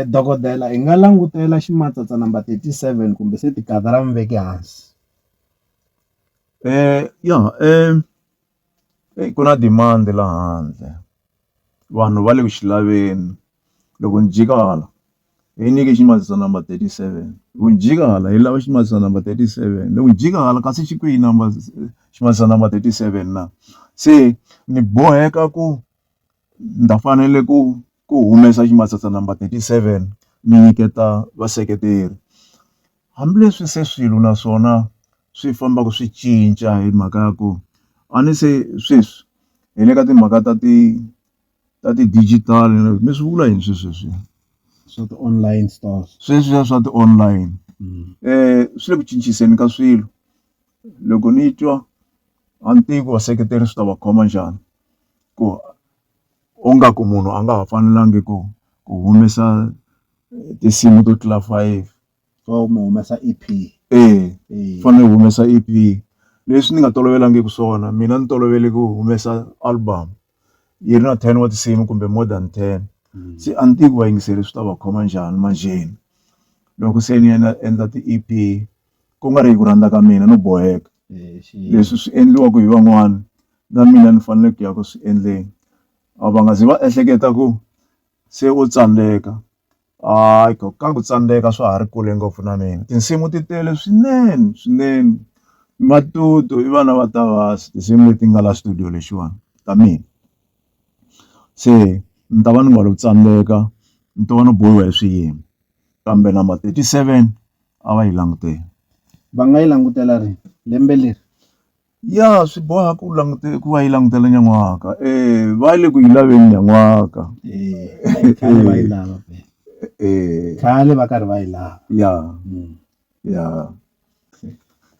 Dokodela hi nga langutela ximatsatsa number thirty seven kumbe se tigandza ra vuveki hansi ya eyi ku na demand la handle vanhu va le ku xi laveni loko ni jika hala hi nyike ximatsatsa number thirty seven hi ku ni jika hala hi lava ximatsatsa number thirty seven ni ku ni jika hala kasi xi kwihi number ximatsatsa number thirty seven na se ni boheka ku ni ta fanele ku. ku humesa ximatsatsa number 37 mi nyiketa vaseketeri. Hambileswi se swilo na swona swi fambaka swi cinca hi mhaka ya ku a ni se sweswi hi le ka timhaka ta ti ta ti-digital mi swi vula yini sweswi leswiya swa ti-online stores sweswiya swa ti-online um swi le ku cinciseni ka swilo loko ni twa a ni tivi ku vaseketeri swi ta va khoma njhani ku U nga ku munhu a nga ha fanelangi ku ku humesa tinsimu to tlula five so mi humesa E_P e fanele u humesa E_P leswi ni nga tolovelangiki swona mina ni tolovele ku humesa album yi ri na ten wa tinsimu kumbe more than ten se a ni tivi ku vayingiseri swi ta va khoma njhani manjheni loko se ni endla ti-E_P ku nga ri hi ku rhandza ka mina no boheka. leswi swi endliwaka hi van'wana na mina ni fanele ku ya ku swi endleni a va nga zi va ehleketa ku se u tsandzeka hayi ko ka ku tsandzeka swa ha ri kule ngopfu na mina tinsimu ti tele swinene swinene matutu i vana va ta va tinsimu leti nga la studio lexiwani ta mina se ni ta va ni nga lo tsandzeka ni to va ni bohiwa hi swiyimo kambe number thirty seven a va yi langutela. Va nga yi langutela rini lembe leri? Ya swi boha ku langute ku va yi langutela nyan'waka e va le ku yi laveni nyan'waka khale va yi lava khale va karhi va yi lava ya hmm. ya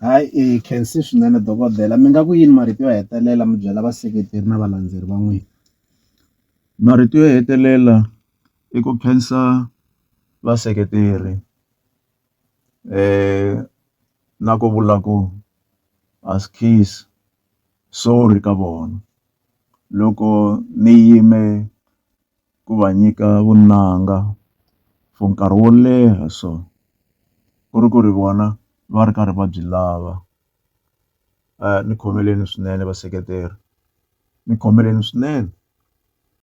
hayi i khensi swinene dokodela mi nga ku yini marito yo hetelela mi byela vaseketeri na valandzeri va n'wina marito yo hetelela i ku khensa vaseketeri na ku vula ku a swi khizi sorry ka vona loko ni yime ku va nyika vunanga for nkarhi wo leha so ku ri ku ri vona va ri karhi va byi lava ni khomeleni swinene vaseketeri ni khomeleni swinene.